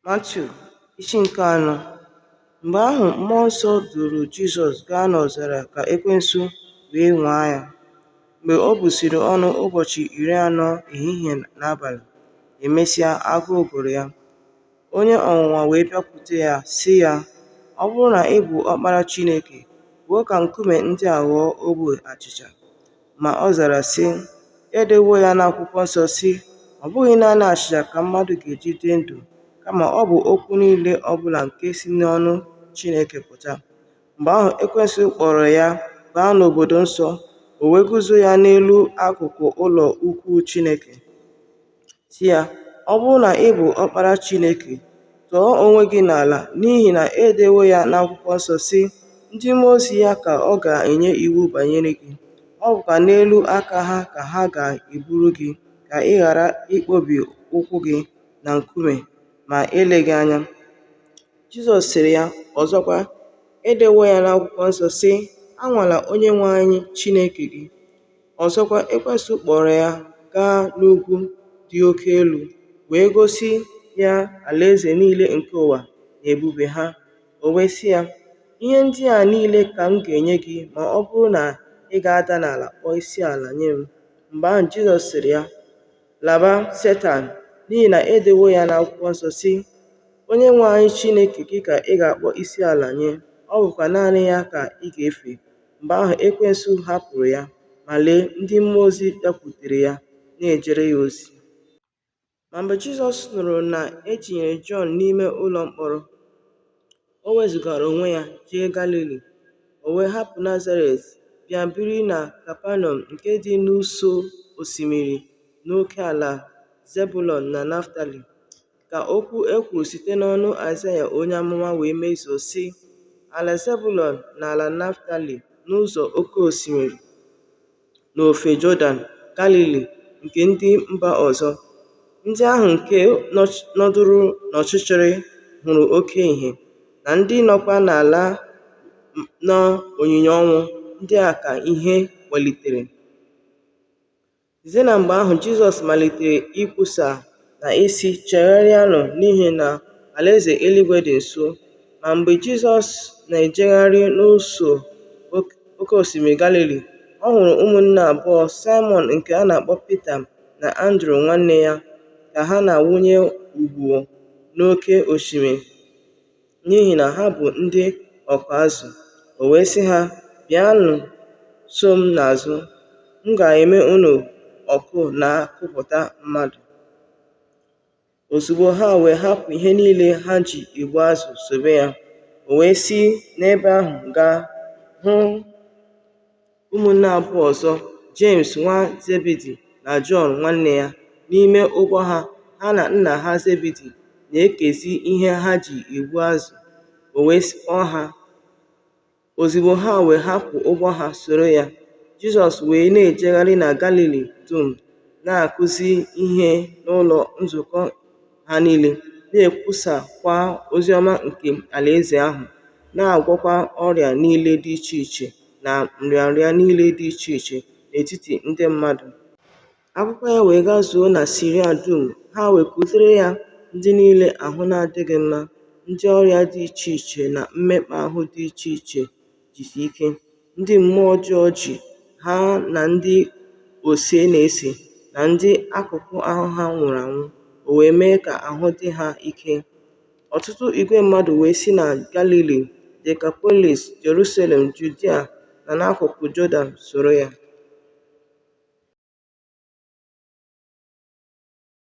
Matiu isi nke anọ Mgbe ahụ mmụọ nsọ duru Jizọs gaa n'ọzara ka ekwensu wee nwaa ya. Mgbe o busiri ọnụ ụbọchị iri anọ ehihie na abalị, emesịa agụụ gụrụ ya. Onye ọnwụnwa wee bịakwute ya sị ya, Ọ bụrụ na ị bụ ọkpara Chineke, kwuo ka nkume ndị a ghọọ ogbe achịcha. Ma ọ zara, sị, E dewo ya n'akwụkwọ nsọ, sị, Ọ bụghị naanị achịcha ka mmadụ ga-eji dị ndụ, kama ọ bụ okwu niile ọ bụla nke si n'ọnụ Chineke pụta. Mgbe ahụ Ekwensu kpọọrọ ya baa n'obodo nsọ, o wee guzo ya n'elu akụkụ ụlọ ukwu Chineke. sị ya, Ọ bụrụ na ị bụ ọkpara Chineke, tọọ onwe gị n'ala, n'ihi na e dewo ya n'akwụkwọ nsọ, sị, Ndị mmụọ ozi ya ka ọ ga-enye iwu banyere gị, ọ bụkwa n'elu aka ha ka ha ga-eburu gị, ka ị ghara ịkpọbi ụkwụ gị na nkume ma eleghị anya. Jizọs sịrị ya ọzọkwa, E dewo ya n'akwụkwọ nsọ, sị, Anwala Onyenwe anyị Chineke gị. Ọzọkwa, Ekwensu kpọọrọ ya gaa n'ugwu dị oke elu wee gosi ya alaeze niile nke ụwa na ebube ha. O wee sị ya, Ihe ndị a niile ka m ga-enye gị ma ọ bụrụ na ị ga-ada n'ala kpọọ isi ala nye m. Mgbe ahụ Jizọs sịrị ya, Laba, Setan, n'ihi na e dewo ya n'akwụkwọ nsọ, sị, Onyenwe anyị Chineke gị ka ị ga-akpọ isi ala nye, ọ bụkwa naanị ya ka ị ga-efe. Mgbe ahụ Ekwensu hapụrụ ya, ma lee, ndị mmụọ ozi bịakwutere ya, na-ejere ya ozi. Ma mgbe Jizọs nụrụ na e tinyere Jọn n'ime ụlọ mkpọrọ, o wezụgara onwe ya jee Galili, o wee hapụ Nazaret bịa biri na Kapanaum nke dị n'ụsọ osimiri n'oke ala Zebulọn na Naftali, ka okwu e kwuru site n'ọnụ Aịzaya onye amụma wee mezuo, sị, Ala Zebulọn na ala Naftali n'ụzọ oke osimiri, n'ofe Jọdan, Galili nke ndị mba ọzọ, ndị ahụ nke nọdụrụ n'ọchịchịrị hụrụ oke ihe, na ndị nọkwa n'ala na onyinyo ọnwụ, ndị a ka ihe kpọlitere. Site na mgbe ahụ, Jizọs malitere ikwusa na ịsị, Chegharịanụ n'ihi na alaeze eluigwe dị nso. Ma mgbe Jizọs na-ejegharị n'ụsọ oke osimiri Galili, ọ hụrụ ụmụnne abụọ, Saịmọn nke a na-akpọ Pita na Andru nwanne ya, ka ha na-awụnye ụgbụ n'oke osimiri, n'ihi na ha bụ ndị ọkụ azụ. O wee sị ha, Bịanụ so m n'azụ, m ga-eme unu ọkụ na-akụpụta mmadụ. Ozugbo ha wee hapụ ihe niile ha ji egbu azụ sobe ya, o wee si n'ebe ahụ gaa hụ Ụmụnne abụọ ọzọ, Jems nwa Zebidi na Jọn nwanne ya, n'ime ụgbọ ha, ha na nna ha Zebidi na-ekezi ihe ha ji egbu azụ, o wee kpọọ ha. Ozugbo ha wee hapụ ụgbọ ha soro ya, Jizọs wee na-ejegharị na Galili dum, na-akụzi ihe n'ụlọ nzukọ ha niile, na-ekwusakwa ozi ọma nke Alaeze ahụ, na-agwọkwa ọrịa niile dị iche iche na nrịanrịa niile dị iche iche n'etiti ndị mmadụ. Akụkọ ya wee gazuo na Siria dum, ha wee kutere ya ndị niile ahụ na-adịghị mma, ndị ọrịa dị iche iche na mmekpa ahụ dị iche iche jisi ike, ndị mmụọ ọjọọ ji, ha na ndị ose na-ese, na ndị akụkụ ahụ ha nwụrụ anwụ, o wee mee ka ahụ dị ha ike. Ọtụtụ igwe mmadụ wee si na Galili, Dekapolis, Jerusalem, Judia, na n'akụkụ Jọdan soro ya.